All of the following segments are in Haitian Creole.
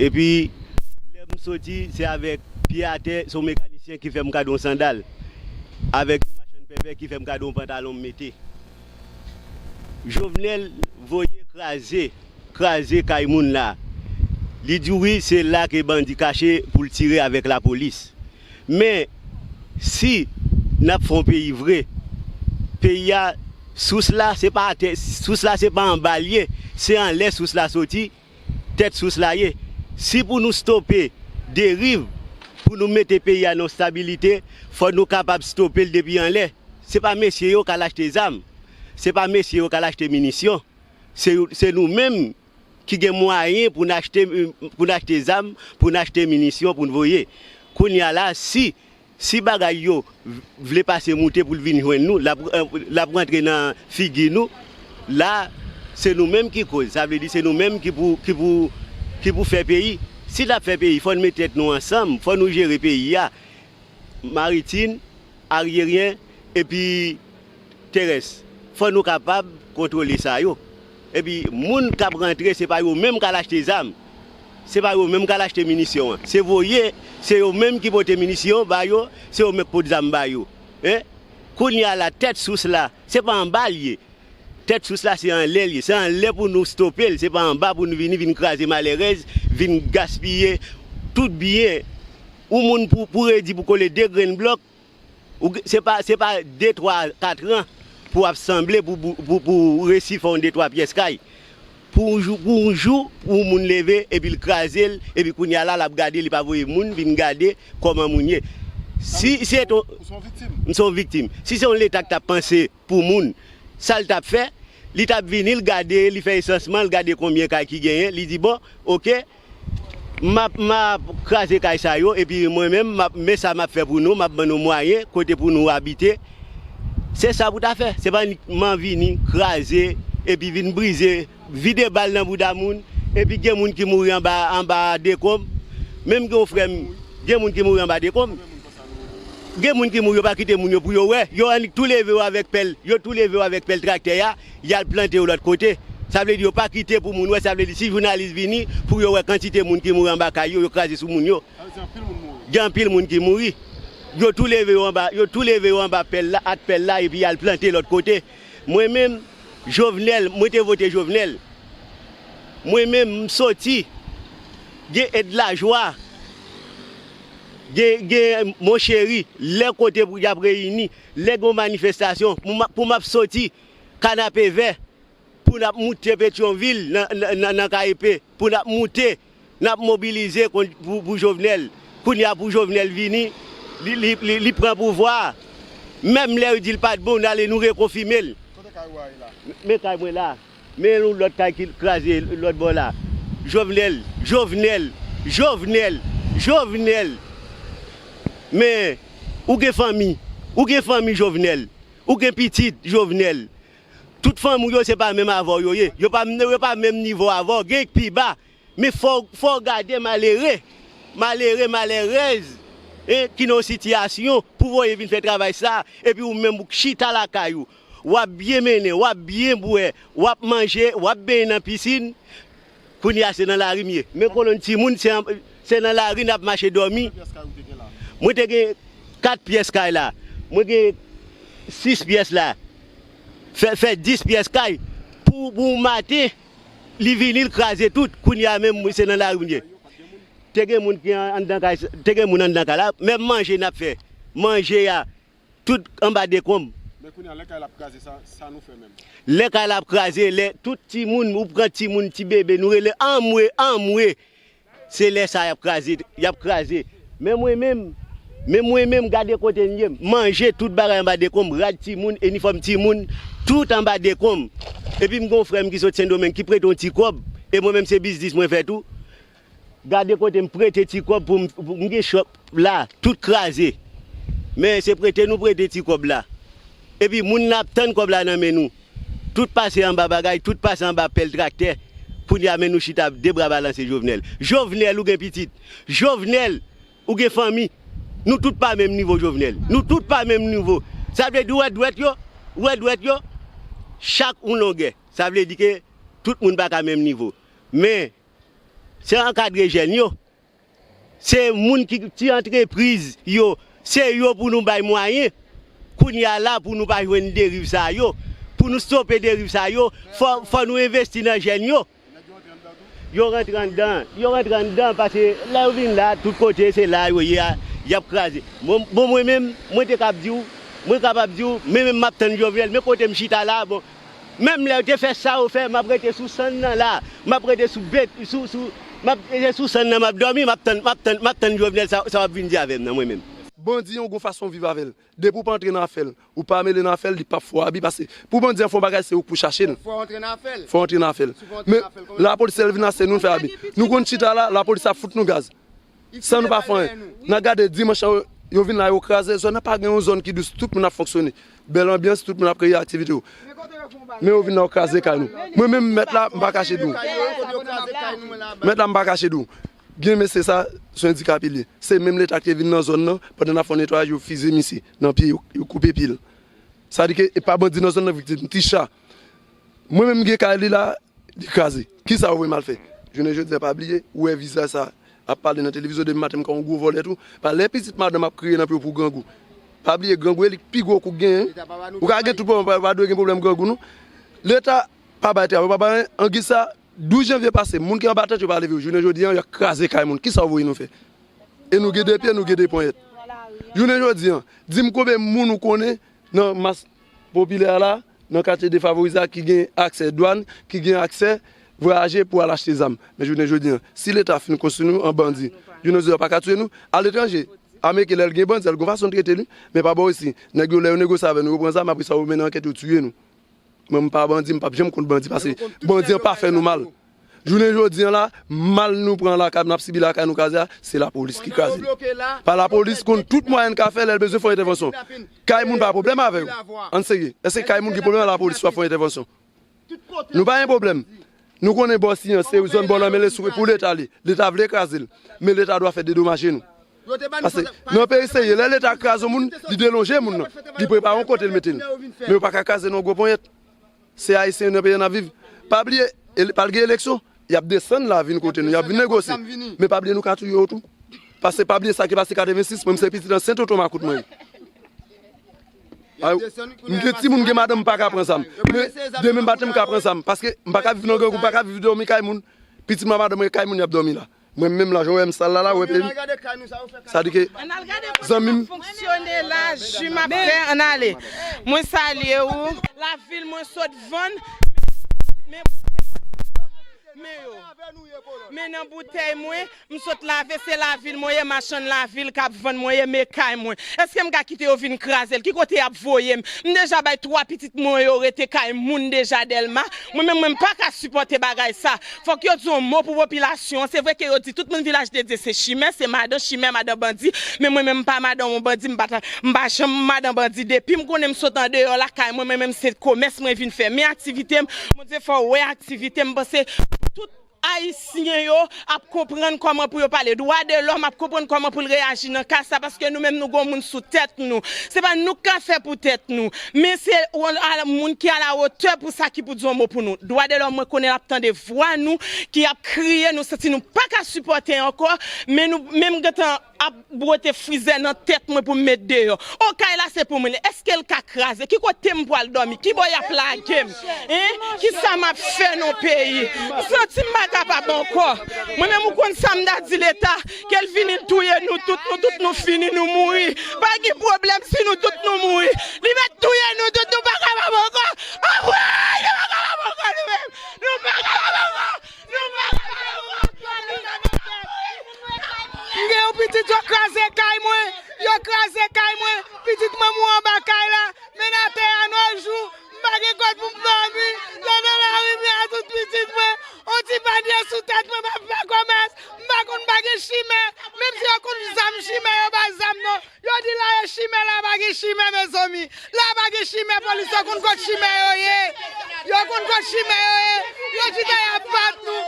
Epi lè m soti se avèk pye atè, se yon mekanisyen ki fè m gade yon sandal, avèk yon machann pèpè ki fè m gade yon pantalon m mete. Jovenel voye kraze, kraze kay moun la. Li di wi se la ke bandi kache pou l tire avèk lapolis. Men, si n ap fè yon peyi vre, peyi a sous la se pa atè, sous la se pa anba l ye, se anlè sous la soti. Tèt sous la ye, si pou nou stope deriv, pou nou mete peyi a nan yon stabilite, fò nou kapab stope l depi anlè. Se pa mesye yo k al achte zam, se pa mesye yo k al achte minisyon, se nou menm ki gen mwayen pou n achte zam, pou n achte minisyon pou n voye. Kounye a la, si Si bagay yo vle pase moute pou l vin jwenn nou, l ap rantre nan figi nou. La a, se nou menm ki koz. Sa vle di se nou menm ki pou fè peyi. Si n ap fè peyi, fò n met tèt nou ansanm, fò nou jere peyi a, Maritin, Aryeryen, epi terès fò nou kapab kontwole sa yo epi moun kap rantre se pa yo menm kal achte zam se pa yo menm kal achte minisyon an se voye se yo menm ki pote minisyon ba yo se yo menm k pot zam ba yo hein kounya la tèt sous la se pa anba l ye tèt sous la se anlè l ye se anlè pou nou stope l se pa anba pou nou vini vin kraze malèrèz vin gaspiye tout byen yon moun pou redi pou kole 2 grenn blòk. Se pa se pa de twa katran pou ap sanble pou pou ou resi fè yon de twa pyès kay pou yon jou pou yon jou pou yon moun leve epi l kraze l epi kounya la l ap gade li pa voye moun vin gade kòman moun ye si se t yon ou se yon viktim m se yon viktim si se yon leta k t ap panse pou moun sa l t ap fè li t ap vini l gade li fè esansman l gade konbyen kay ki genyen li di bon ok. Map map kraze kay sa yo epi mwen menm map men sa map fè pou nou map ban nou mwayen kote pou nou abite se sa pou ta fè se pa uniquement vini kraze epi vin brize vide bal nan bouda moun epi gen moun ki mouri anba anba dekonb menm gen yon frèm gen moun ki mouri anba dekonb gen moun ki mouri yo pa kite moun yo pou yo wè yo annik tou leve yo avèk pèl yo tou leve yo avèk pèl traktè a. Yal plante yo lòt kote. Sa vle di yo pa kite pou moun wè sa vle di si jounalis vini pou yo wè kantite moun ki mouri anba kay yo yo kraze sou moun yo gen anpil moun ki mouri yo tou leve yo anba yo tou leve yo anba pèl la ak pèl la epi yal plante lòt kote mwen menm jovenel mwen te vote jovenel mwen menm m soti gen ed lajwa gen gen mon cheri lè kote pou yap reyini. Lè gen yon manifestasyon pou map soti kanapevè pou nap moute petyonvil nan KEP pou nap moute nap mobilize pou jovenel kounye a pou jovenel vini li pran pouvwa a menm lè yo dil pat bon nou ale nou rekonfimel men kay mwen la. Men yon lòt kay ki kraze lòt bò la. Jovenel! Jovenel! Jovenel! Jovenel! Men, ou gen fanmi. Ou gen fanmi, Jovenel. Ou gen pitit, Jovenel. Tout fanmi w yo se pa menm avè w yo ye. Yo pa menm nivo avè w. Gen ki pi ba. Men fò w gade malere, malere, malèrèz ki nan yon sitiyasyon pou w voye vin fè travay sa a epi ou menm ou chita lakay ou. Wap byen mennen, wap byen bwè, wap manje, wap benyen nan pisin, kounye a se nan lari m ye. Men kolonn timoun se nan lari nap mache dòmi. Mwen te gen 4 pyès kay la, mwen gen 6 pyès la, fè 10 pyès kay pou yon maten li vini li kraze tout, kounye a menm se nan lari m ye. Te gen moun anndan kay la, menm manje nap fè, manje a Tout anba dekonb. Men kounya lè kay la ap kraze sa sa nou fè menm. Lè kay la ap kraze lè tout timoun ou pran timoun ti bebe nou rele anmwe anmwe se lè sa yap kraze yap kraze men mwen menm men mwen menm gade kote m ye manje tout bagay anba dekonb rad timoun enifòm timoun tout anba dekonb epi m gon frè m ki sot sendomeng ki prete yon ti kòb e mwen menm se biznis mwen fè tou. Gade kote m prete ti kòb pou m m gen shop la tout kraze men se prete nou prete ti kòb la epi moun nan ap tann kòb la nan men nou tout pase anba bagay tout pase anba pèl traktè kounya men nou chita ap 2 bra balanse Jovenel Jovenel ou gen pitit Jovenel ou gen fanmi nou tout pa menm nivo Jovenel nou tout pa menm nivo sa vle di ou wè dwèt yo ou wè dwèt yo chak yon longè sa vle di ke tout moun pa ka menm nivo men Se ankadre jèn yo, se moun ki ti antrepriz yo, se yo pou nou bay mwayen kounye a la pou nou pa jwenn deriv sa yo. Pou nou stope deriv sa yo, fò nou envesti nan jèn yo. Yo rantre anndan. Yo rantre anndan pase lè yo vin la tout kote se la yo ye a, y ap kraze. Bon mwen menm, mwen te kab di w, mwen kapab di w, mwen menm m ap tann Jovenel, men kote m chita la a bon. Menm lèw te fè Saw fè map rete sou sann nan la map rete sou bet sou sou map rete sou sann nan map dòmi map tann map tann map tann jovenel sa sa wap vin di avèm nan mwen menm. Bandi yon gon fason viv avèl depi ou pa antre nan afèl ou pa mele nan afèl li pap fè w abi pase pou bandi an fè yon bagay se ou k pou chache l fè w antre nan afèl fè w antre nan afèl men lapolis lè l vin la se nou l fè abi nou konn chita la lapolis ap fout nou gaz San nou pa fè anyen. N a gade dimanch la yo vin la yo kraze zòn nan, pa gen yon zòn ki dous, tout moun ap fonksyone. Bèl anbyans, tout moun ap kreye aktivite yo. Men yo vin la yo kraze kay nou. Mwen menm mèt la m pa kache di w. Mèt la m pa kache di w. Gen mesye sa, se endikap li ye. Se menm leta ki te vin nan zòn nan, pandan n ap fè yon netwayaj yo fiziye misye nan pye, yo koupe pye l. Sa vle di ke e pa bandi nan zòn nan viktim, ti cha. Mwen menm gen kay li la, li kraze. Kisa ou vle mal fè? Jounen jodi a pa bliye, ou wè vizaj sa ap pale nan televizyon depi maten m konn ou gwo vòlè tou. Pa lè pitit madanm ap kriye nan pye w pou grangou. Pa bliye grangou e li k pi gwo kou k genyen. Ou ka gen tout pwoblèm ou pa dwe gen pwoblèm grangou non. Leta pa bay travay, pa bay anyen. Angi sa 12 janvye pase moun ki anba tèt yo pa leve yo. Jounen jodi a y ap kraze kay moun. Kisa ou voye nou fè? E nou gen 2 pye, nou gen 2 ponyèt. Jounen jodi a, di m konbe moun ou konnen nan mas popilè a la? nan katye defavorize a ki gen aksè dwàn, ki gen aksè vwayaje pou al achte zam. Men jounen jodi an, si leta fin konstwi nou an bandi, jounen jodi an yo pa ka touye nou. Aletranje, Ameriken lè l gen bandi sa l gon fason l trete li, men pa bò isi, nèg yo lè yo negosye avè nou, yo pran zam apresa yo mennen ankèt yo tiye nou. Mwen m pa bandi, m pap janm kont bandi pase bandi an pa fè nou mal. Jounen jodi an la, mal nou pran lakay, nap sibi lakay nou kraze a, se lapolis ki kraze li. Pa lapolis konn tout mwayen l ka fè lè l bezwen fè yon entèvansyon. Kay moun pa gen pwoblèm avè yo. Ann serye. Èske kay moun gen pwoblèm avè lapolis pou ap fè yon entèvansyon? Nou pa gen pwoblèm. Nou konnen bò siy an se zòn bò lanmè l e sou pou leta li. Leta vle kraze l. Men leta dwa fè dedomaje nou. Pase, nan yon peyi serye, lè leta kraze yon moun, li delonje moun nan. Li prepare yon kote l mete l. Men yo pa ka kraze nou an gwo ponyèt. Se ayisyen nan peyi an nap viv pa bliye pral gen eleksyon yap desann la vin kote nou yap vin negosye men pa bliye nou ka touye yo tou pase pa bliye sa ki pase 86 mwen se pitit nan sen tonton makout mwen ye m gen timoun m gen madanm m paka pran zam men demen m pa janm ka pran zam paske m paka viv nan grangou m paka viv domi kay moun pitit mwen ak madanm mwen kay moun yap domi la. Mwen menm la jan w wè m sal la la wè pye m sa di ke zanmi m. Lavil mwen sot vann men boutèy mwen yo men nan boutèy mwen m sot lave se lavil mwen ye machann lavil kap vann mwen ye men kay mwen eske m ka kite yo vin kraze l ki kote yap voye m m deja bay 3 pitit mwen yo rete kay moun deja dèlma mwen menm mwen m paka sipòte bagay sa Fòk yo di yon mo pou popilasyon an, se vre ke yo di tout moun vilaj de Dye se chimè, se madan chimè, madan bandi, men mwen menm m pa madan yon bandi, m pa ta, m pa janm madan bandi, depi m konnen m sot andeyò lakay mwen, mwen menm se komès mwen vin fè, men aktivite m, Bondye fè w wè aktivite m, m panse tout Ayisyen yo ap konprann kòman pou yo pale dwa de lòm, ap konprann kòman pou l reyaji nan ka sa, paske nou menm nou gen yon moun sou tèt nou, se pa nou k ka fè pou tèt nou. Men se yon moun ki a la wotè pou sa ki pou di yon mo pou nou. Dwa de lòm mwen konnen lap tande vwa nou ki ap kriye nou santi nou paka sipòte ankò men nou men m gentan ap bwote frizè nan tèt mwen pou m met deyò. Oh kay la se pou mwen li eske l ka kraze ki kote m pwal dòmi ki bò yap lage m hein kisa map fè nan peyi m santi m pa kapab ankò mwen menm ou konn sa m ta di leta Kel vini touye nou tout nou tout nou fini nou mouri pa gin problème si nou tout nou mouri li met touye nou tout nou pa kapab ankò anmweyy nou pa kapab ankò nou menm nou pa kapab ankò nou pa kapab ankò nou pa kapab ankò nap mouri nap mouri. M gen yon pitit yo kraze kay mwen yo kraze kay mwen pitit manmou anba kay la men atè a nojou. M pa gen kòd pou m dòmi, lè nan lari m ye a tout pitit mwen, on ti panye sou tèt mwen m ap fè komès, m pa konn pa gen chimè, menm si yo konn zam chimè yo pa zam non, yo di la e chimè la pa gen chimè mezanmi, la pa gen chimè polis yo konn kot chimè yo ye, yo konn kot chimè yo ye, yo chita y ap bat nou,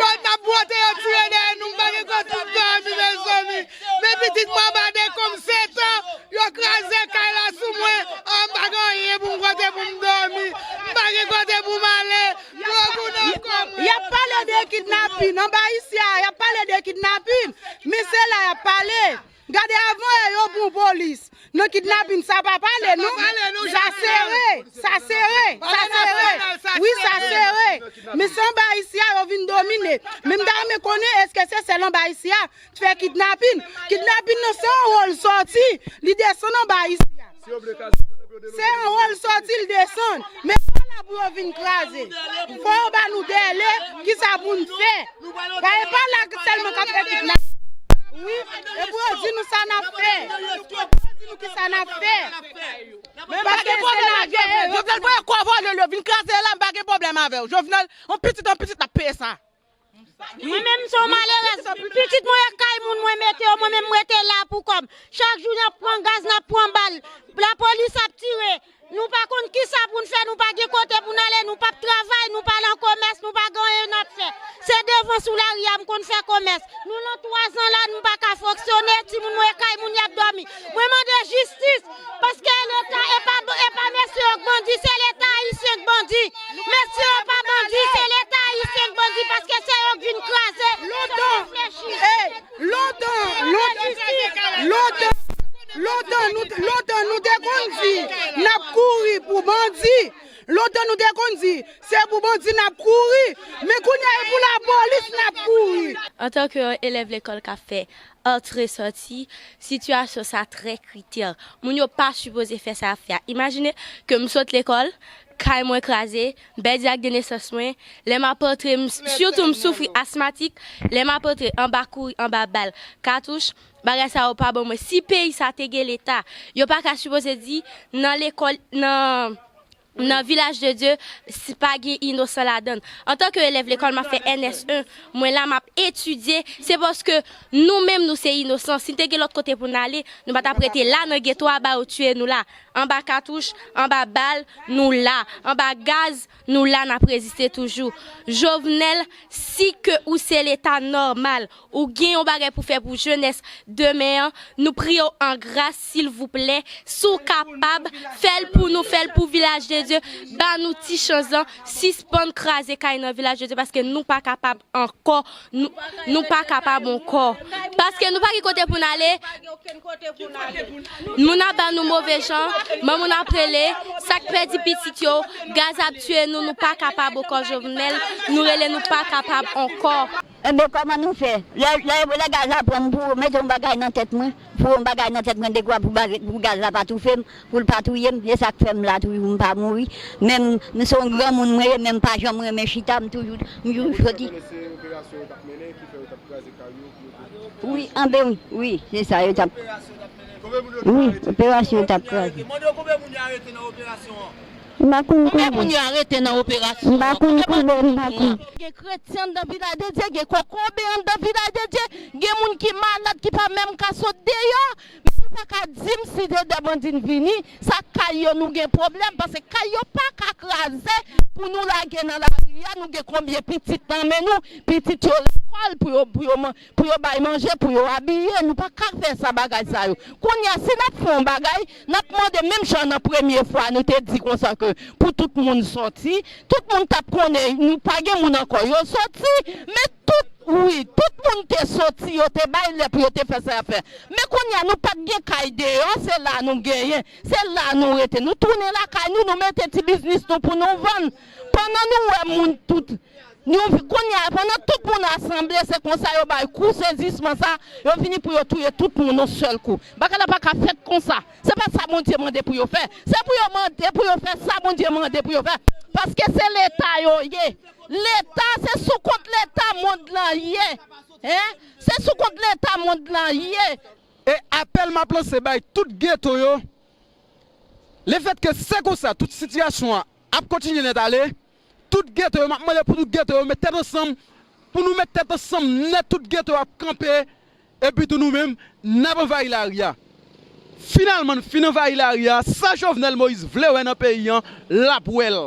yo t ap bwote yo tire dèyè nou m pa gen kòd pou m dòmi mezanmi. Men pitit mwen anba dekonm setan Yo kraze kay la sou mwen An m pa gen anyen pou m kote pou m dòmi M pa gen kote pou m ale Dlo gou nan kò m Y ap pale de kidnapin anba isye a Y ap pale de kidnapin Men se la y ap pale Gade avan yè yo bon polis Nan kidnapin sa pa pale non Sa sere Sa sere Sa sere Wi sa sere Men se anba isye a yo vin domine Men m ta renmen konnen Èske se sèl anba isye a Fè kidnapin. Kidnapin nan se yon wol soti li desann anba isi a. Se yon wol soti li desann. Men pa la pou yo vin kraze. Fò yo ba nou dèle ki sa pou n fè. Ba e pa la selman kap fè kidnapin. Wi. E pou yo di nou sa nap fè. E pou yo di nou ki sa nap fè. Men pa gen pwoblèm ak Jovenel. Jovenel voye kò vòlè l yo vin kraze la m pa gen pwoblèm avè w. Jovenel an pitit an pitit nap peye sa. Mwen menm m son malerèz, pitit mwen ak kay moun mwen mete yo mwen menm m rete la pou kòm. Chak jou nap pran gaz nap pran bal, lapolis ap tire, nou pa konn kisa poun fè nou pa gen kote poun ale nou pap travay nou pa lan komès nou pa gen anyen nap fè se devan sou lari a m konn fè komès nou lan 3 zan la m paka fonksyone timoun mwen kay moun yap dòmi Mwen mande jistis paske e leta e pa e pa mesye yo k bandi se leta ayisyen k bandi mesye yo pa bandi se leta ayisyen k bandi paske se yo k vin kraze lontan hey lontan lontan lontan nou lontan nou te konn di nap kouri pou bandi lontan nou te konn di se pou bandi nap kouri men kounya e pou lapolis nap kouri. Antan ke yon elèv lekòl k ap fè Antre sòti, sitiyasyon sa trè kritè. Moun yo pa sipoze fè sa y ap fè a. Imajine ke m sot lekòl, kay mwen kraze, m pèdi ak de nesans mwen, lè m ap antre, m sitou m soufri asmatik, lè m ap antre anba kouri, anba bal, katouch, bagay sa yo pa bon mwen. Si peyi sa te gen leta, yo pa ka sipoze di nan lekòl, nan Nan Vilaj de Dye, pa gen inosan ladann. Antanke elèv lekòl m ap fè NS1, mwen la m ap etidye, se paske nou menm nou se inosan, si n te gen lòt kote pou n ale, nou pa t ap rete la nan geto a ba yo tiye nou la. Anba katouch, anba bal, nou la. Anba gaz, nou la n ap reziste toujou. Jovenel, si ke ou se leta nòmal, Ou gen yon bagay pou fè pou jenès demen an, nou priye w an gras silvouplè si w kapab fè l pou nou, fè l pou Vilaj de Dye, ba nou ti chans lan, sispann kraze kay nan Vilaj de Dye paske nou pa kapab ankò, nou pa kapab ankò. Paske nou pa gen kote pou n ale, moun ap ba nou move jan, moun ap rele, sa k pèdi pitit yo, gaz ap tiye nou, nou pa kapab ankò Jovenel, nou rele nou pa kapab ankò. Enben kòman nou fè? Lè lè gaz la pran m pou ou mete yon bagay nan tèt mwen, pou yon bagay nan tèt mwen dekwa pou bagay pou gaz la pa toufe m, pou l pa touye m, se sa k fè m la toujou m pa mouri. Men m m se yon granmoun mwen ye men m pa janm renmen chita m toujou m toujou Ou fè soti. konnen se operasyon yo t ap mennen ki fè yo t ap kraze kay yo pou yo te touye moun Wi sa yo. anben wi wi se sa yo t ap Konbyen moun yo tou arete nan operasyon an? Wi operasyon yo t ap kraze. Mande yo konbyen moun y arete nan operasyon an? Konbyen moun yo arete nan operasyon an konbyen bandi nou pran an. Gen kretyen anndan vilaj de Dye gen kokobe anndan vilaj de Dye gen moun ki malad ki pa menm ka sot deyò misye paka dim si se 2 bandi n vini sa kay yo nou gen pwoblèm pase kay yo paka kraze pou nou lage nan lari a nou gen konbyen pitit nan men nou pitit yo lekòl pou yo pou yo man Pou yo bay manje, pou yo abiye, nou pa ka fè sa bagay sa yo. Kounye a, si n ap fè yon bagay, n ap mande menm jan nan premye fwa nou te di konsa ke pou tout moun sòti, tout moun t ap konnen nou pa gen moun ankò, yo sòti, men tout, wi, tout moun te sòti, yo te bay lè pou yo te fè sa y ap fè. Men kounye a, nou pa t gen kay deyò, se la nou genyen, se la nou rete. Nou tounen lakay nou, nou mete ti biznis nou pou nou vann. Pandan nou wè moun tout. Yon vi kounya pandan tout moun rasanble se konsa yo bay kou sezisman sa yo vini pou yo touye tout moun yon sèl kou bagay la paka fèt konsa se pa sa Bondye mande pou yo fè se pou yo mande pou yo fè sa Bondye mande pou yo fè paske se leta yo ye leta se sou kont leta mond lan ye hein se sou kont leta mond lan ye. E apèl map lanse bay tout geto yo le fèt ke se konsa tout sitiyasyon an ap kontinye nèt ale Tout geto yo map mande pou tout geto yo met tèt ansanm pou nou met tèt ansanm nèt tout geto yo ap kanpe epi tou nou menm nap anvayi lari a finalman n fin anvayi lari a sa Jovenel Moïse vle wè nan peyi an lap wè l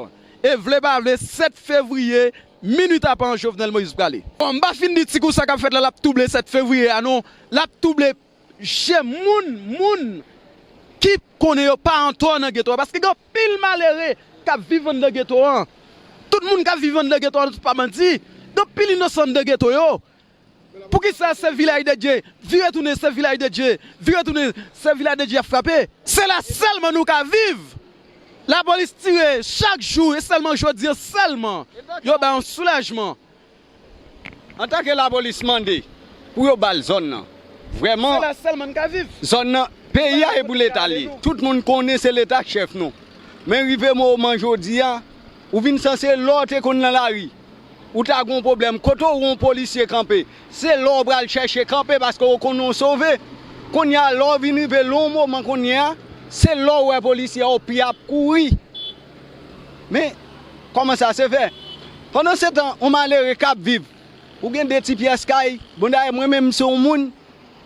e vle pa vle 7 fevriye minwi tapan Jovenel Moïse prale. Bon m pa fin di ti kou sa kap fèt la lap twouble 7 fevriye a non lap twouble je moun moun ki konnen yo pa antò nan geto a paske gen anpil malere kap viv anndan geto an tout moun kap viv anndan geto an pa bandi gen anpil inosan anndan geto yo poukisa se vilaj de dye vire tounen se vilaj de dye vire tounen se vilaj de dye yap frape se la sèlman nou ka viv lapolis tire chak jou e sèlman jodi an sèlman yo bay yon soulajman. Antanke lapolis mande pou yo bal zòn nan vrèman zòn nan peyi a e pou leta li ye tout moun konnen se leta k chèf nou men rive moman jodi a ou vin sanse lè w te konn nan lari ou ta gon pwoblèm kote w wè yon polisye kanpe se la w pral chèche kanpe paske w konnen w sove kounye a lè w vin rive lè w moman kounye a se la w wè polisye a w pi ap kouri. Men, kòman sa se fè? Pandansetan, yon malere k ap viv, ou gen de ti pyès kay, bon dayè mwen menm m se yon moun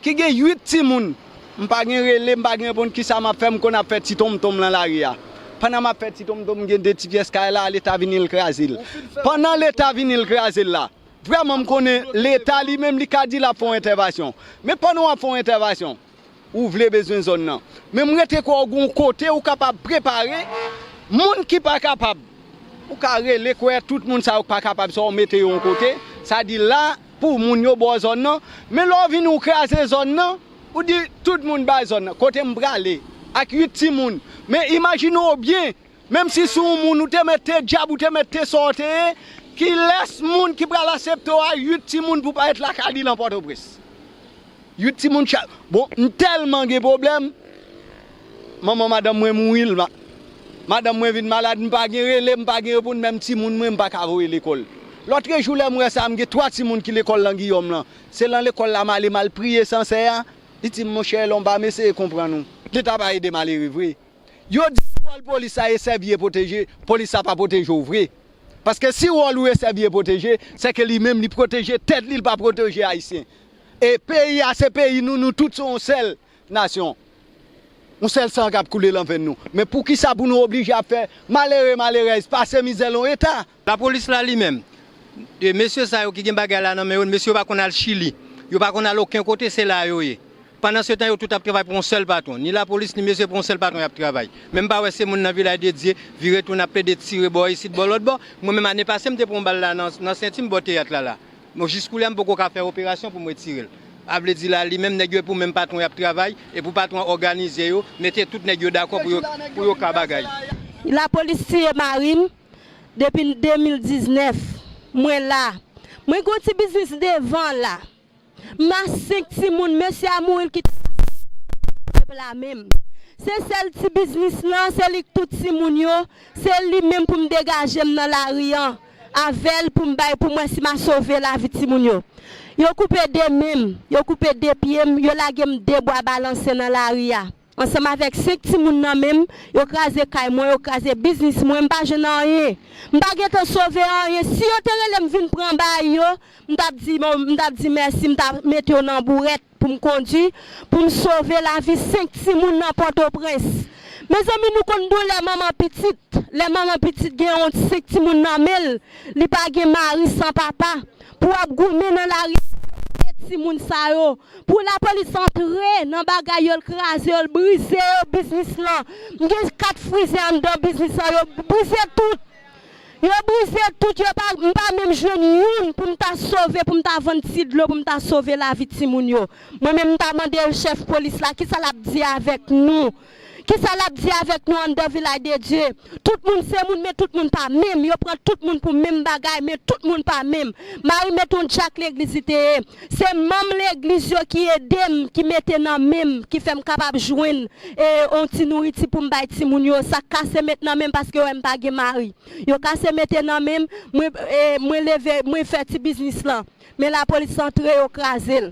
ki gen 8 timoun, m pa gen rele, m pa gen reponn ki sa m ap fè, m konn ap fè ti tonmtonm lan lari a. Pandan m ap fè ti tonmtonm m gen de ti pyès kay la, Leta vini l kraze l. Pandan Leta vini l kraze l la, vrèman m konnen Leta li menm li ka di l ap fè yon entèvasyon. Men pandan w ap fè yon entèvasyon. Ou vle bezwen zòn nan. Men m rete kwè w gen yon kote ou kapab prepare moun ki pa kapab. Ou ka rele kwè tout moun sa yo k pa kapab sa w mete yo yon kote, sa di la pou moun yo ba w zòn nan. Men lè w vini w kraze zòn nan, ou di tout moun bay zòn nan. Kote m prale ak 8 timoun. Men imajine w byen Menm si sou yon moun ou te mèt te djab ou te mèt te sa w te ye, kilès moun ki pral asepte w a 8 timoun pou pa ret lakay li lan Pòtoprens? 8 timoun chak, bon m tèlman gen pwoblèm, manman madanm mwen mouri l, madanm mwen vin malad m pa gen rele m pa gen reponn menm timoun mwen m pa ka voye lekòl. Lòtrejou lè m wè sa m gen 3 timoun ki lekòl lan Giyòm lan, se lan lekòl la m ale m al priye Sansè a, li di m monchè Elon ba m eseye konprann ou, leta pa ede malere vre. Yo di wòl polis la e sèvi e pwoteje, polis la pa pwoteje w vre. Paske si wòl ou e sèvi e pwoteje, se ke li menm li pwoteje tèt li, li pa pwoteje Ayisyen. E peyi a se peyi nou, nou tout se yon sèl nasyon. Yon sèl san k ap koule lan venn nou. Men poukisa pou nou oblije ap fè malere, malerèz pase mizè lan yon eta? Lapolis la li menm, mesye sa yo ki gen bagay la nan men yo, mesye yo pa konn al Chili, yo pa konn al oken kote, se la yo ye. Pandansetan yo tout ap travay pou yon sèl patwon, ni lapolis ni mesye pou yon sèl patwon y ap travay. Men m pa wè se moun nan Vilaj de Dye, vire tounen ap plede tire bò isit bò lòt bò. Mwen menm ane pase m te pran yon bal la nan senti m bò teyat la la. Bon jis koulye a m poko ka fè operasyon pou m retire l. A vle di la li menm nèg yo e pou menm patwon y ap travay, e pou patwon an òganize yo, mete tout nèg yo dakò pou yo ka bagay. Lapolis tiye mari m, depi 2019 mwen la mwen gon ti biznis devan la ma 5 timoun mesye a mouri l kite ma 5 timoun pep la menm se sèl ti biznis lan se li k tout timoun yo se li menm pou m degaje m nan lari an avèl pou m bay pou m wè si ma sove lavi timoun yo yo koupe 2 men m yo koupe 2 pye m yo lage m 2 bwa balanse nan lari a. Ansanm avèk 5 timoun nan men m, yo kraze kay mwen, yo kraze biznis mwen, m pa jwenn anyen. M pa gen tan sove anyen. Si yo te rele m vin pran bay yo, m t ap di bon, m t ap di mèsi, m ta mete yo nan bourèt pou m kondi, pou m sove lavi 5 timoun nan Pòtoprens. Mezanmi nou konn doulè manman pitit, lè manman pitit gen yon 5 timoun nan men l, li pa gen mari san papa, pou ap goumen nan lari ak 2 timoun sa yo. Pou lapolis antre nan bagay yo l kraze yo l brize yo biznis lan m gen 4 frize anndan biznis lan yo brize tout yo brize tout yo pa m pa menm jwenn youn pou m ta sove pou m ta vann ti dlo pou m ta sove lavi timoun yo mwen menm m ta mande chèf polis la kisa lap di avèk nou Kisa lap di avèk nou anndan vilaj de Dye? Tout moun se moun men tout moun pa menm, yo pran tout moun pou menm bagay men tout moun pa menm. Mari met on djak legliz li te ye. Se manm legliz yo ki edem ki mete nan menm ki fèm kapab jwenn e on ti nouriti poum bay ti moun yo sak kase met nan menm paske yo wèm pa gen mari yo kase mete nan menm mwen e mwen leve mwen fè ti biznis lan men lapolis antre yo krazel.